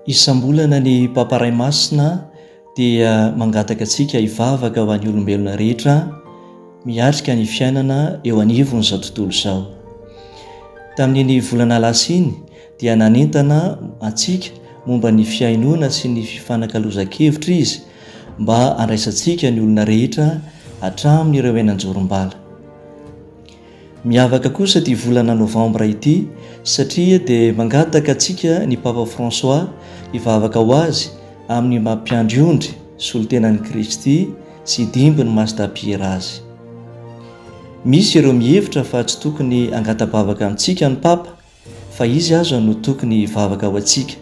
Isam-bolana ny Papa Ray Masina dia mangataka antsika hivavaka ho an'ny olombelona rehetra miatrika ny fiainana eo anivon'izao tontolo izao. Tamin'iny volana lasa iny dia nanentana antsika momba ny fihainoana sy ny fifanakalozan-kevitra izy mba handraisantsika ny olona rehetra hatramin'ireo eny an-jorom-bala. Miavaka kosa ity volana novambra ity satria dia mangataka antsika ny Papa François hivavaka ho azy amin'ny maha mpiandry ondry solontenan'i Kristy sy hidimby ny masdapir azy. Misy ireo mihevitra fa tsy tokony hangata-bavaka amintsika ny Papa fa Izy aza no tokony hivavaka ho antsika.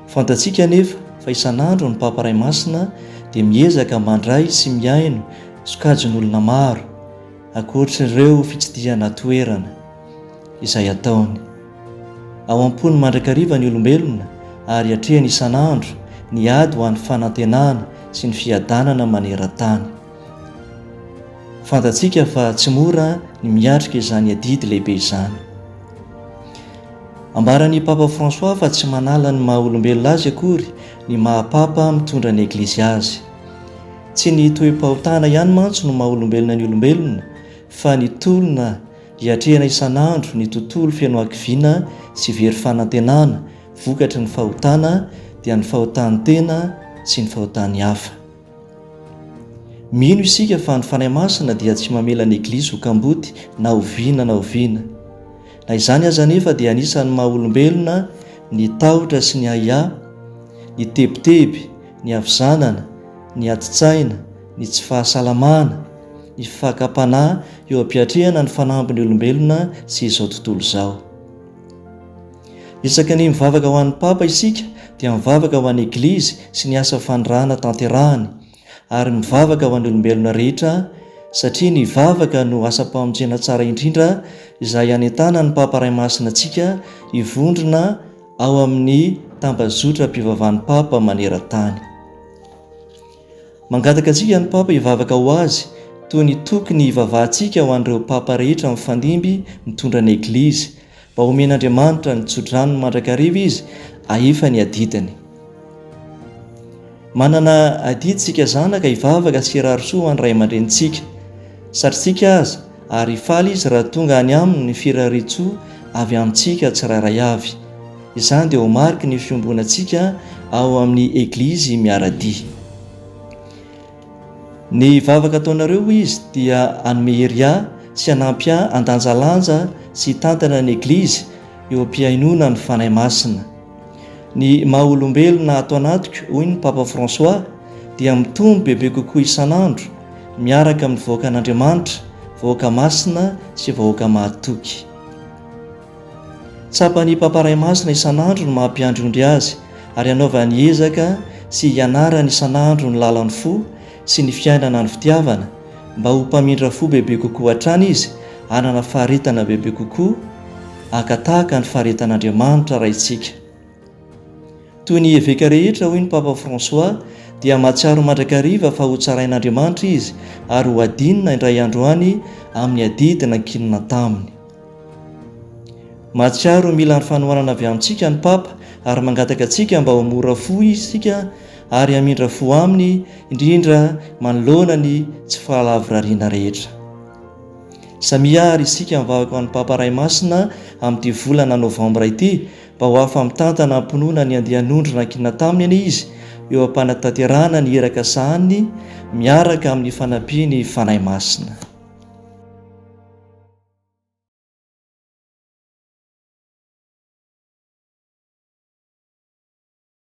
Fantatsika anefa fa isan'andro ny Papa Ray Masina dia miezaka mandray sy mihaino sokajin'olona maro, ankoatr'ireo fitsidihana toerana izay ataony. Ao am-pony mandrakariva ny olombelona ary atrehiny isan'andro ny ady ho an'ny fanantenana sy ny fiadanana maneran-tany. Fantatsika fa tsy mora ny miatrika izany adidy lehibe izany. Ambaran'i Papa François fa tsy manala ny maha olombelona azy akory ny maha Papa mitondra ny Eglizy azy. Tsy ny toe-pahotana ihany mantsy no maha olombelona ny olombelona fa ny tolona iatrehana isan'andro ny tontolo feno hakiviana sy very fanantenana vokatry ny fahotana dia ny fahotan-tena sy ny fahotan'ny hafa. Mino isika fa ny Fanahy Masina dia tsy mamela ny Eglizy ho kamboty na oviana na oviana. Na izany aza anefa dia anisan'ny maha olombelona ny tahotra sy ny ahiahy, ny tebiteby, ny havizanana, ny adin-tsaina, ny tsy fahasalamana, ny fakam-panahy eo am-piatrehana ny fanambin'ny olombelona sy izao tontolo izao. Isaky ny mivavaka ho an'ny Papa isika dia mivavaka ho an'ny Eglizy sy ny asa fanirahana tanterahany, ary mivavaka ho an'ny olombelona rehetra, satria ny vavaka no asam-pamonjena tsara indrindra izay anentanan'ny Papa Ray Masina antsika hivondrona ao amin'ny tambazotram-pivavahan'ny Papa maneran-tany. Mangataka antsika ny Papa hivavaka ho azy toy ny tokony hivavahantsika ho an'ireo Papa rehetra mifandimby mitondra ny Eglizy, Mba homen'Andriamanitra ny tso-dranony mandrakariva izy ahefa ny adidiny. Manana adidy isika zanaka hivavaka sy hirary soa ho an'ny ray aman-drenintsika. Satritsika aza, ary faly izy raha tonga any aminy ny firarian-tsoa avy amintsika tsirairay avy. Izany dia ho mariky ny fiombonantsika ao amin'ny Eglizy miara-dia. Ny vavaka ataonareo hoy izy dia hanome hery ahy sy hanampy ahy handanjalanja sy hitantana ny Eglizy eo am-pihainoana ny Fanahy Masina. Ny maha olombelona ato anatiko, hoy ny Papa François, dia mitombo bebe kokoa isan'andro miaraka amin'ny vahoakan'Andriamanitra, vahoaka masina sy vahoaka mahatoky. Tsapan'ny Papa Ray Masina isan'andro ny maha mpiandry ondry azy ary hanaovany ezaka sy hianarany isan'andro ny lalan'ny fo sy ny fiainana ny fitiavana mba ho mpamindra fo bebe kokoa hatrany izy hanana faharetana bebe kokoa haka tahaka ny faharetan'Andriamanitra Raintsika. Toy ny eveka rehetra, hoy ny Papa François, dia mahatsiaro mandrakariva fa hotsarain'Andriamanitra izy ary hohadinina indray andro any amin'ny adidy nankinina taminy. Mahatsiaro mila ny fanohanana avy amintsika ny Papa ary mangataka antsika mba ho mora fo isika ary hamindra fo aminy, indrindra manoloana ny tsy fahalavorariana rehetra. Samia àry isika mivavaka ho an'ny Papa Ray Masina amin'ity volana Novambra ity Vao hafa mitantana am-pinoana ny andian'ondry nankinina taminy anie izy eo am-panatanterahana ny iraka sahaniny miaraka amin'ny fanampian'ny Fanahy Masina.